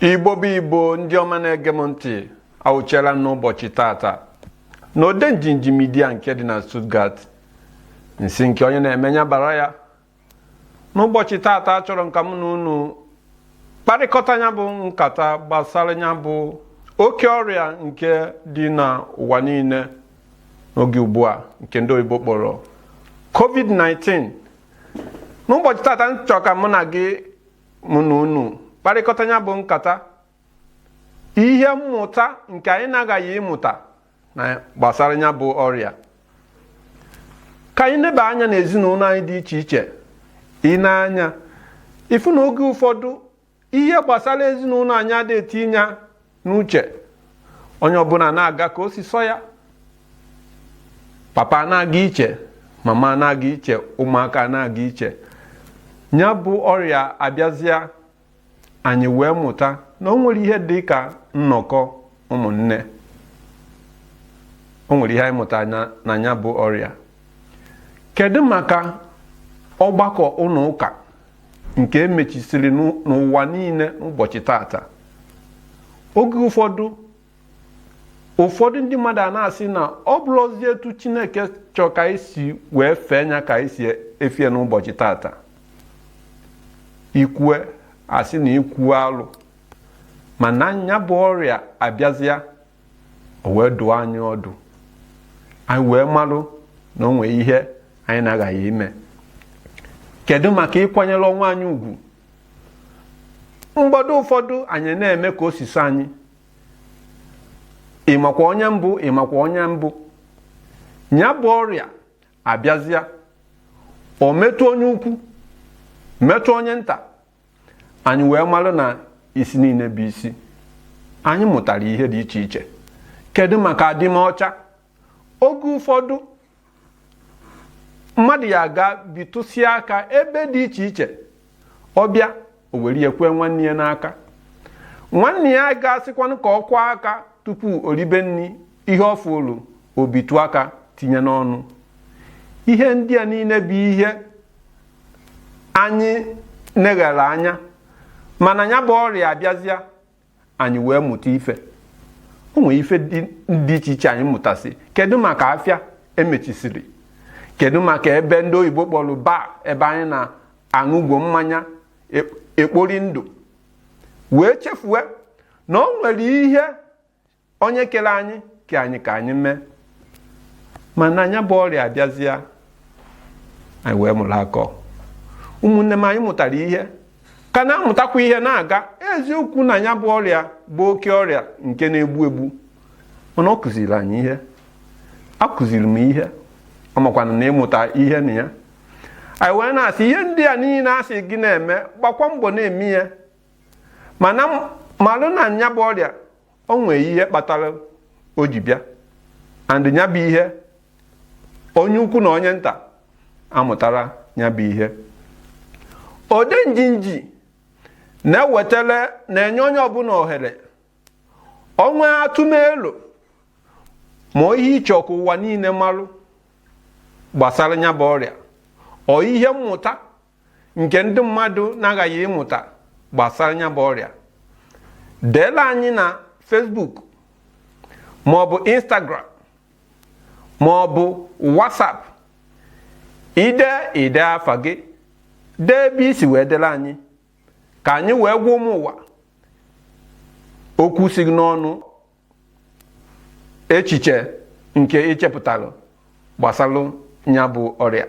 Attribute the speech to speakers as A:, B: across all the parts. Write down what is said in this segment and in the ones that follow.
A: igbo bụ igbo ndị ọma na-ege m ntị awụchiela m n'ụbọchị tata na odenjinji media nke dị na Stuttgart nsi nke onye na-eme ya bara ya n'ụbọchị tata achọrọ m ka m na unu kparịkọta ya bụ nkata gbasara ya bụ oke ọrịa nke dị n'ụwa niile n'oge ugbu a nke ndị oyibo kpọrọ covid-19 n'ụbọchị tata m chọ ka mụ na gị mụ na unu kparịkọta ya bụ nkata ihe mmụta nke anyị na-aghaghị ịmụta na gbasara ya bụ ọrịa ka anyị neba anya n'ezinụlọ anyị dị iche iche i nee anya ị fụ na oge ụfọdụ ihe gbasara ezinụlọ anyị adị etinye n'uche onye ọbụla na-aga ka o si sọ ya papa na-aga iche mama na-aga iche ụmụaka na-aga iche ya bụ ọrịa abịazịa anyị wee mụta na o nwere ihe dị ka nnọkọ ụmụnne o nwere ihe anyị mụta na ya bụ ọrịa kedu maka ọgbakọ ụlọ ụka nke e mechisiri n'ụwa niile n'ụbọchị tata oge ụfọdụ ụfọdụ ndị mmadụ a na-asị na ọ bụrọzi etu chineke chọọ ka anyị si wee fee nya ka anyị si efe ya n'ụbọchị tata i kwue a sị na i kwue alụ mana nya bụ ọrịa abịazịa o wee dụọ anyị ọdụ anyị wee malụ na o nwee ihe anyị na-aghaghị ime kedu maka ịkwanyere onwe anyị ugwu mgbe ụfọdụ anyị na-eme ka o si sọ anyị ị makwa onye m bụ ị makwa onye m bụ ya bụ ọrịa abịazịa o metụ onye ukwu metụ onye nta anyị wee marụ na isi niile bụ isi anyị mụtara ihe dị iche iche kedu maka adịmọcha oge ụfọdụ mmadụ ya aga bitụsịa aka ebe dị iche iche ọ bịa o were ya kwee nwanne ya n'aka nwanne ya ga-asịkwanụ ka ọ kwọọ aka tupu o ribe nri ihe ọ fụrụ o bitụ aka tinye n'ọnụ ihe ndị a niile bụ ihe anyị neghere anya mana ya bụ ọrịa abịazịa anyị wee mụta ife o nwere ife dị iche iche anyị mụtasị kedu maka afịa e mechisiri kedu maka ebe ndị oyibo kpọrọ bar ebe anyị na-aṅụgwo mmanya ekpori ndụ wee chefue na o nwere ihe onye kere anyị ke anyị ka anyị mee mana nya bụ ọrịa abịazịa anyị wee mụrụ akọ ụmụnne m anyị mụtara ihe ka na-amụtakwa ihe na-aga eziokwu na nya bụ ọrịa bụ oke ọrịa nke na-egbu egbu mana ọ kụziri anyị ihe akụziri m ihe ọmakwana na ị mụta ihe na ya anyị wee na-asị ihe ndị a niile a sị gị na-eme gbakwa mbọ na-eme ya mana malụ na nya bụ ọrịa o nwee ihe kpatara o ji bịa and nya bụ ihe onye ukwu na onye nta amụtara nya bụ ihe ode njinji na-ewetara na-enye onye ọbụla ohere o nwee atụmelo ma ihe ị chọ ka ụwa niile marụ gbasara nya bụ ọrịa or ihe mmụta nke ndị mmadụ na-aghaghị ịmụta gbasara nya bụ ọrịa deela anyị na Facebook ma ọ bụ Instagram ma ọ bụ WhatsApp ide ide afa gị dee ebe i si wee dela anyị ka anyị wee gwa ụmụ ụwa okwu si gị n'ọnụ echiche nke i chepụtalụ gbasalụ nya bụ ọrịa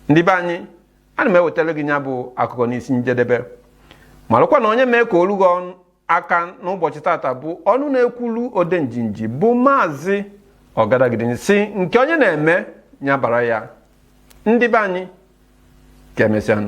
A: ndị be anyị ana m ewetara gị nya bụ akụkọ n'isi njedebe malụkwa na onye mee ka o lu gị aka n'ụbọchị tata bụ ọnụ na-ekwulu ode njinji bụ maazị ọgadagidi sị nke onye na-eme nya bara ya ndị be anyị ka emesịanụ